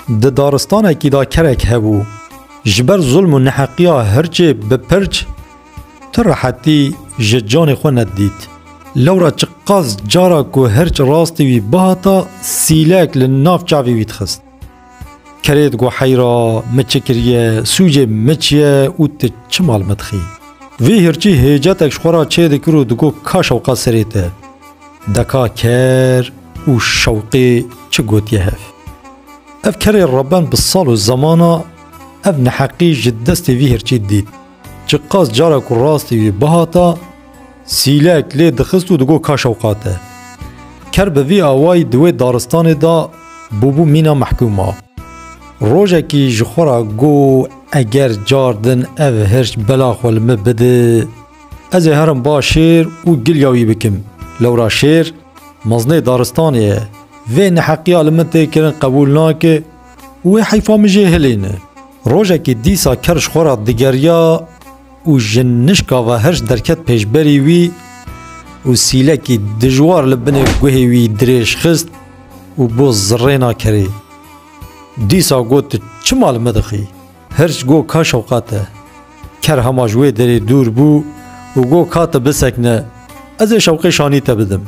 Di daristanekî de kerek hebû. Ji ber zulm û neheqiya hirçê bi pirç tu rehetî ji canê xwe nedidît. Lewra çiqas cara ku hirç rastî wî bihata sîlek li nav çavê wî dixist. Kerê digo heyra min çi kiriye, sûcê min çi ye û tu çima li min dixî. Vê hirçî hêcetek ji xwe re çêdikir û digo ka şewqat serê te. Deka ker û şewqê çi gotiye hev? Ev kerê rebend bi sal û zemana ev neheqî ji destê vî hirçî dît. Çi qas cara ku rastî wî bihata, sîlek lê dixist û digot ka şewqa te. Ker bi vî awayî di wê daristanê de bûbû mîna mehkûma. Rojekî ji xwe re got eger car din ev hirç bela xwe li min bide, Ez ê herim ba şêr û gilya wî bikim. Lewra şêr meznê daristanê ye. Vê neheqiya li min tê kirin qebûl nake û wê heyfa min jê hilîne. Rojekê dîsa ker ji xwe re digeriya û ji nişka ve herj derket pêşberî wî û sîlekî dijwar li binê guhê wî dirêj xist û bo zirrêna kerê. Dîsa got tu çima li min dixî? Hirç got ka Şewqat e. Ker hema ji wê derê dûr bû û got ka tu bisekine ez ê şewqê şanî te bidim.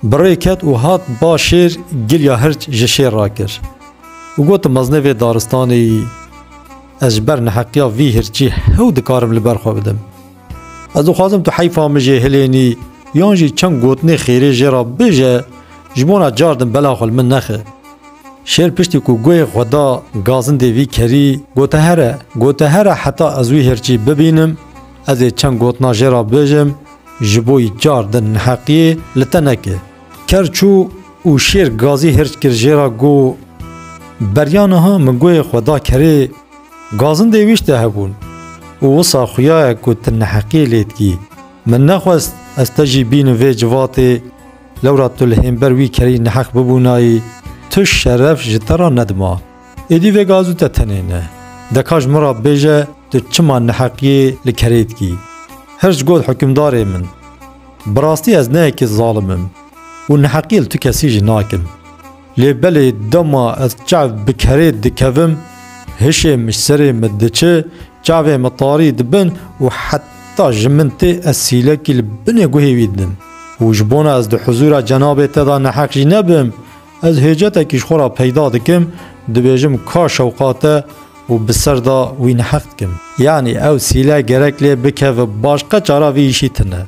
Bi rê ket û hat ba şêr giliya hirç ji şêr rakir û got tu mezine vê daristanê yî ez ji ber neheqiya vî hirçî hew dikarim li ber xwe bidim. Ez dixwazim tu heyfa min jê hilênî yan jî çend gotinê xêrê jê re bije ji bona car din bela xwe li min nexe. Şêr piştî ku guhê xwe da gazindê vî kerî gote here gote here heta ez wî hirçî bibînim ez ê çend gotina jê re bijim ji bo yî car din neheqiyê li te neke. Ker çû û şêr gazî hirç kir jê re got, Beriya niha min guhê xwe da kerê. Gazin dê wî şte hebûn û wisa xuyayek ku ti neheqî lê dikî. Min nexwest ez te jî bînim vê civatê, lewra tu li hênber wî kerî neheq bibûnayî, tu şeref ji te re nedima. Êdî vê gazû te tenê ne. Deka ji min re bêje tu çima neheqiyê li kerê dikî. Hirç got hukimdarê min. Bi rastî ez ne yekê zalim im û neheqî li tu kesî jî nakim. Lê belê dema ez çav bi kerê dikevim, hişê min serê min diçi, çavê min tarî dibin û heta ji min tê ez sîlekî li binê guhê wî didim. Û ji bona ez di huzûra cenabê te de neheq jî nebim, ez hêcetekî ji xwe re peyda dikim, dibêjim ka şewqa te û bi ser de wî neheq dikim. Yanî ew sîle gerek lê bikeve, başqa çara vê îşî tune.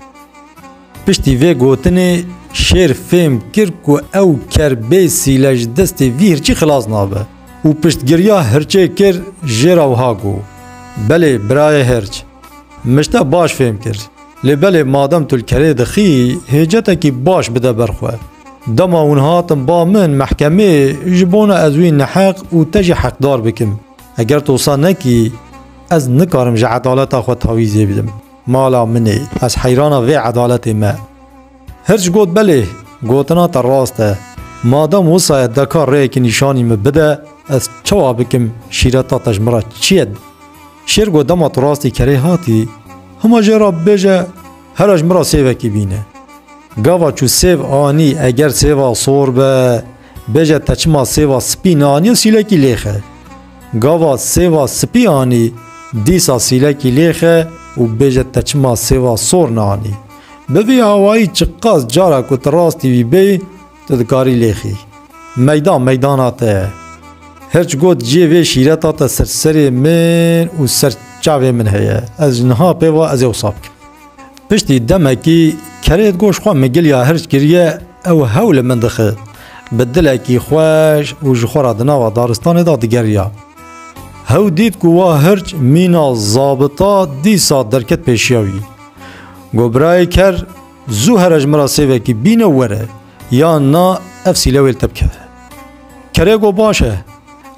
Piştî vê gotinê şêr fêm kir ku ew ker bê sîle ji destê vî hirçî xilas nabe û piştgiriya hirçê kir jê re wiha got, Belê birayê hirç, min ji te baş fêm kir. Lê belê madem tu li kerê dixî hêcetekî baş bide ber xwe. Dema hûn hatin ba min mehkemê ji bona ez wî neheq û te jî heqdar bikim. Eger tu wisa nekî ez nikarim ji edaleta xwe tawîzê bidim. Mala min e, ez heyrana vê edaletê me. Hirç got belê, gotina te rast e. Madem wisa ye deka rêyekî nîşanî min bide, ez çawa bikim şîreta te ji min re çi ye? Şêr got dema tu rastî kerê hatî, hima jê re bibêje here ji min re sêvekî bîne. Gava çû sêv anî eger sêva sor be, Bêje te çima sêva spî neanî sîlekî lêxe? Gava sêva spî anî dîsa sîlekî lêxe û bêje te çima sêva sor neanî. Bi vî awayî çiqas cara ku tu rastî wî bê tu dikarî lêxî. Meydan meydana te ye. Hirç got ciyê vê şîreta te ser serê min û ser çavê min heye. Ez ji niha pê ve ez ê wisa bikim. Piştî demekî kerê goş xwe min giliya hirç kiriye ew hewl li min dixi. Bi dilekî xweş û ji xwe re di nava daristanê de digeriya. Hew dît ku wa hirç mîna zabita dîsa derket pêşiya wî. Got birayê ker zû here ji min re sêvekî bîne û were yan na ev sîlewê li te bikeve. Kerê got baş e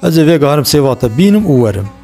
ez ê vêgahirim sêva te bînim û werim.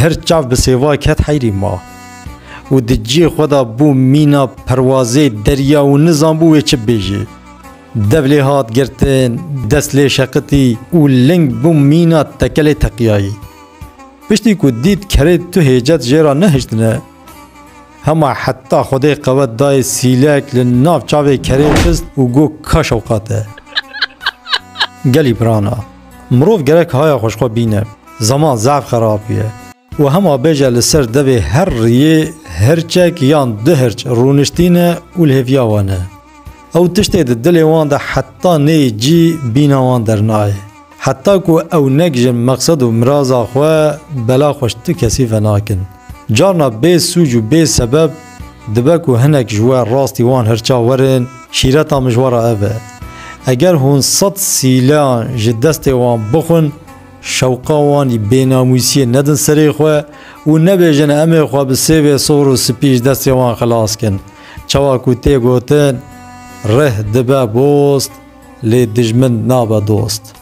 Hird çav bi sêva ket heyrî ma û di cihê xwe de bû mîna perwazê derya û nizanbû wê çi bêjê. Dev lê hat girtin, dest lê şeqitî û ling bû mîna tekelê teqiyayî. Piştî ku dît kerê tu hêcet jê re nehiştine, hema heta xwedê qewet dayê sîlek li nav çavê kerê xist û got ka şewqat e. Gelî pirana. Mirov gerek haya xwe ji xwe bîne. Zeman zaf xerab ye. Û hema bêje li ser devê her riyê hirçek yan du hirç rûniştîne û li hêviya wan e. Ew tiştê di dilê wan de heta neyê cî bîna wan dernayê. Heta ku ew negijin meqsed û miraza xwe bela xwe ji tu kesî venakin. Carna bê sûc û bê sebeb dibe ku hinek ji we rastî wan hirça werin, şîreta mijwara ev e. Eger hûn sed sîleyan ji destê wan bixwin, şewqa wan î bênamûsiyê nedin serê xwe û nebêjin em ê xwe bi sêvê sor û spî ji destê wan xilas kin. Çawa ku tê gotin, Rih dibe bost, lê dijmin nabe dost.